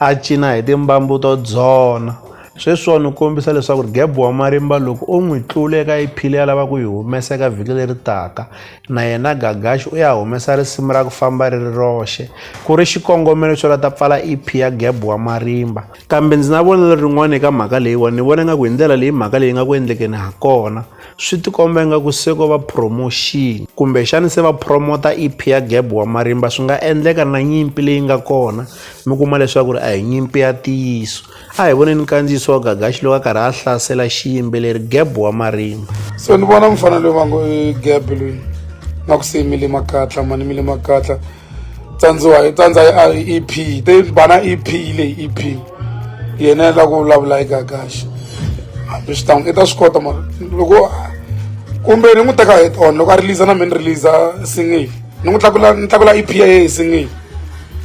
A cina hi timbambu to dzona. Sweswiwa ni kombisa leswaku Geb wa marimba loko o n'wi tlula eka EP leyi a lavaka ku yi humesa eka vhiki leri taka, na yena Gagashi u ya humesa risimu ra ku famba ri ri roxe, ku ri xikongomelo xo lata pfala EP ya Geb wa marimba. Kambe ndzi na vonelo rin'wana eka mhaka leyiwa. Ni vona ingaku hi ndlela leyi mhaka leyi nga ku endlekeni ha kona, swi tikomba ingaku se ko va promotion kumbexani se va promota EP ya Geb wa marimba swi nga endleka na nyimpi leyi nga kona mi kuma leswaku ri a hi nyimpi ya ntiyiso a hi voneni nkandziyiso wa gagaxi loko a karhi a hlasela xiyimbeleri Geb wa marimba so ni vona mufana loyi va ngo i Geb loyi na ku se i mile makatla mani mile makatla tsandziwa hi tsandza i EP te bana EP leyi EP yena la ku vulavula eka kahle hambi swi tanga i ta swi kota mara loko kumbe ni n'wi teka head on loko a release na mina ni release single ni n'wi tlakula ni tlakula EP ya yena single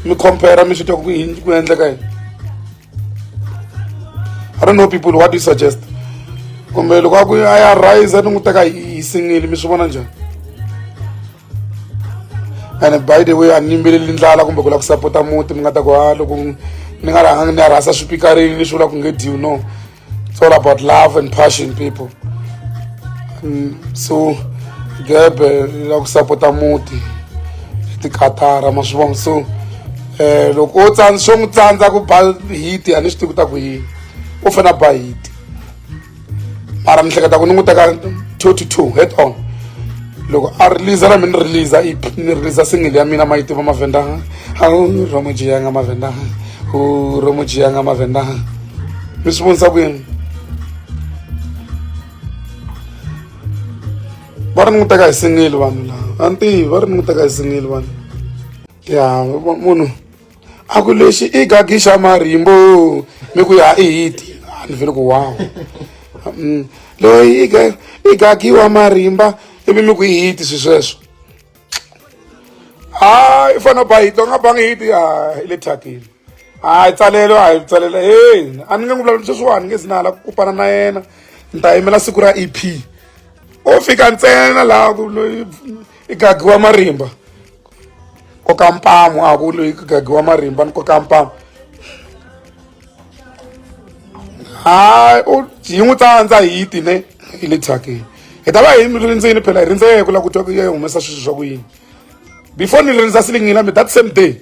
mi compare mi swi twa ku yini ku endleka yini I don't know people what do you suggest kumbe loko a ku a ya rise ni n'wi teka hi single mi swi vona njhani ene by the way a ni yimbeleli ndlala kumbe ku lava ku sapota muti mi nga ta ku ha loko ni nga rhanga ni ya rhasa swipikarini ni swi vula ku nge deal no it's all about love and passion people mm, so gebe ni lava ku sapota muti hi tikatara ma swi vona so um loko o tsandza swo n'wi tsandza ku ba hiti a ni swi tivi ku ta ku yini u fanele a ba hiti mara ni hleketa ku ni n'wi teka two to two head on loko a release na mi ni release ep ni release single ya mina ma yi tiva mavhenda romojiyanga mavhenda romojiyanga mavhenda mi swi vonisa ku yini va ri ni n'wi teka hi single vanhu lava a ni tivi va ri ni n'wi teka hi single vanhu ya munhu a ku lexi i gagixa marimbo mi ku ya i hiti a ni vele ku wow mm. loyi i gagiwa marimba ivi mi ku i hiti swi sweswo hayi i fanele ba hiti u nga bangi hiti a i le thyakile hayi tsalelo a hi tsalela he a ni nge n'wi vulavuli sweswiwani nge si na hala ku kupana na yena ni ta yimela siku ra e p o fika ntsena laha ku loyi i gagiwa marimba koka mpamu a ku loyi ku gagiwa marimba ni koka mpamu hayi u hi n'wi tsandza hi ti ne hi le thyakeni hi ta va hi mi rindzini phela hi rindze ku la ku twa ku ya humesa sweswi swa ku yini before ni rindza silingini la mi that same day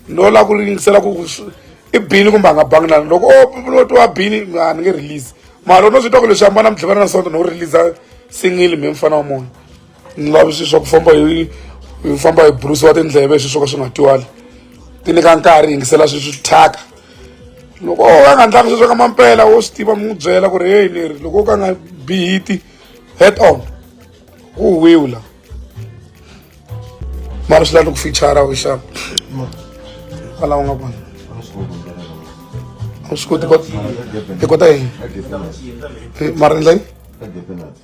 no la ku ringisela ku i bini kumbe a nga bangi na loko o twa bini a ni nge release mara u no swi twa ku leswi ambana mi tlhivana na sonto no release single mi mfana wa munhu ni lavi swilo swa ku famba hi hi famba hi burisiwa tindleve hi swilo swo ka swi nga twali ti nyika nkarhi yingisela swilo swi thyaka loko o ka nga ndlanga sweswo ka mampela wo swi tiva mi n'wi byela ku ri heyi ni ri loko o ka nga bihiti head on u wiwula mara swi lava ku fichara u xava kwalaho nga kona a swi koti hi kota yini mara endla yini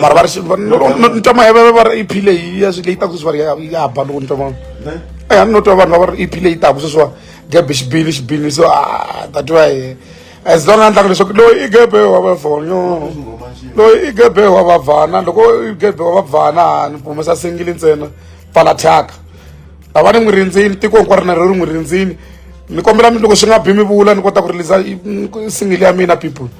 mara va ri ni twa maheveve va ri ep leyi ya leyi taku sweswi va ri ya ba loko ni twa ma e a ni no twa vanhu va ri ep leyi taku sweswiwa gebe xibili xibili so a ta twa ye as long a ndlaka leswaku loyi i gebe wa vavhonyo loyi i gebe wa vavhana loko i gebe wa vavhana ni humesa singili ntsena pfala thyaka lava ni n'wi rindzini tiko hinkwaro na ro ri n'wi rindzini ni kombela loko swi nga bi mi vula ni kota ku rilisa singili ya mina people